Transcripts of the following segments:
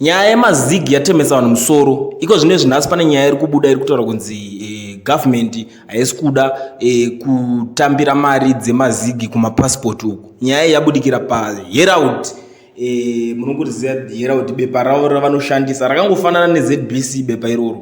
Nyaya yemazig yatemesa vanhu musoro iko zvino izvi nhasi pane nyaya iri kubuda iri kutaura kunzi eh, government haisi kuda eh, kutambira mari dzemazigi kumapasipoti uku nyaya iyi yabudikira paherald eh, munongoriziva herald bepa ravo ravanoshandisa rakangofanana nezbc bepa iroro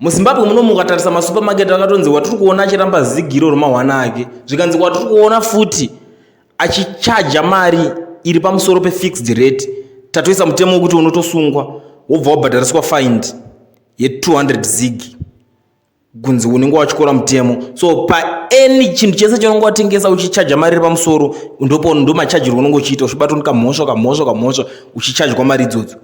muzimbabwe muno mukatarisa masupermarket akatonzi watiri kuona achiramba zigiro remahwana ake zvikanzi watiri kuona futi achichaja mari iri pamusoro pefixed rate tatoisa mutemo wekuti unotosungwa wobva wabhadhariswa find ye200 zig kunzi unenge wachikora mutemo so paany chinhu chese chaunenge watengesa uchichaja mari iri pamusoro ndopo ndomachajirwa unenge uchiita uchibatwa nekamhosva kamhosva kamhosva uchichajwa mari idzodzo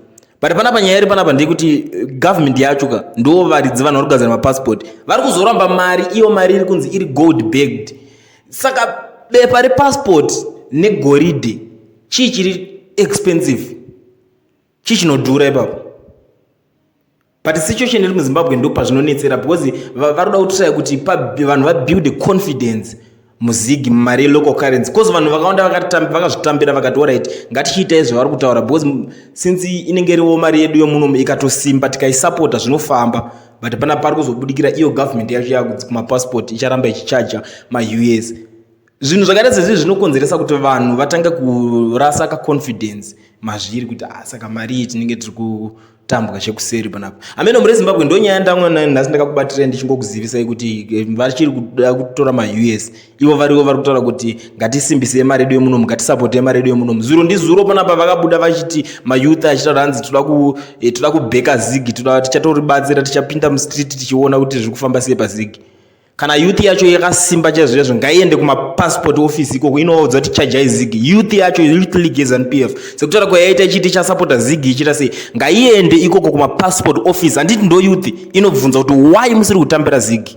but panapa nyaya iri panapa ndeyekuti eh, government yacho ka ndo varidzi vanhu vari kugadzira mapassport vari kuzoramba mari iyo mari iri kunzi iri gold bagged saka bepa repassport negoridhe chii chiri expensive chii chinodhura ipapo but situation iri muzimbabwe ndo pazvinonetsera because vari kuda kutiraya kuti vanhu vabuilde confidence muzigi mumari yelocal currency bcause vanhu vakawanda vakazvitambira vakati orit ngatichiita izvo vari kutaura because since inenge iriwo mari yedu yomuno ikatosimba tikaisapota zvinofamba but pana pari kuzobudikira iyo government yacho yakudzi kumapassport icharamba ichichaja maus zvinhu zvakaita sezvi zvinokonzeresa kuti vanhu vatange kurasa kaconfidence mazviri kuti ah, saka mari iyi tinenge tiri tambwa chekuseri panapa amene mure zimbabwe ndonyaya ndamwa nayo nhasi ndakakubatirei ndichingokuzivisai kuti eh, vachiri kuda kutora maus ivo varivo vari kutaura kuti ngatisimbisei mari yedu yemunomu ngatisapotei mari yedu yemunomu zuro ndizuro panapa vakabuda vachiti mayouth achitaura hanzi toda ku eh, toda kubheka zigi toda tichatoribatsira tichapinda mustreet tichiona kuti zviri kufamba sei pazigi kana youth yacho yakasimba chaizvo chaizvo ngaiende kumapassport office ikoko inovaudza kuti chajai zigi youth yacho youth league zanp f sekutaura kwayaita ichiti chasapota zigi ichiita sei ngaiende ikoko kumapassport office handiti ndo youth inobvunza kuti why musiri kutambira zigi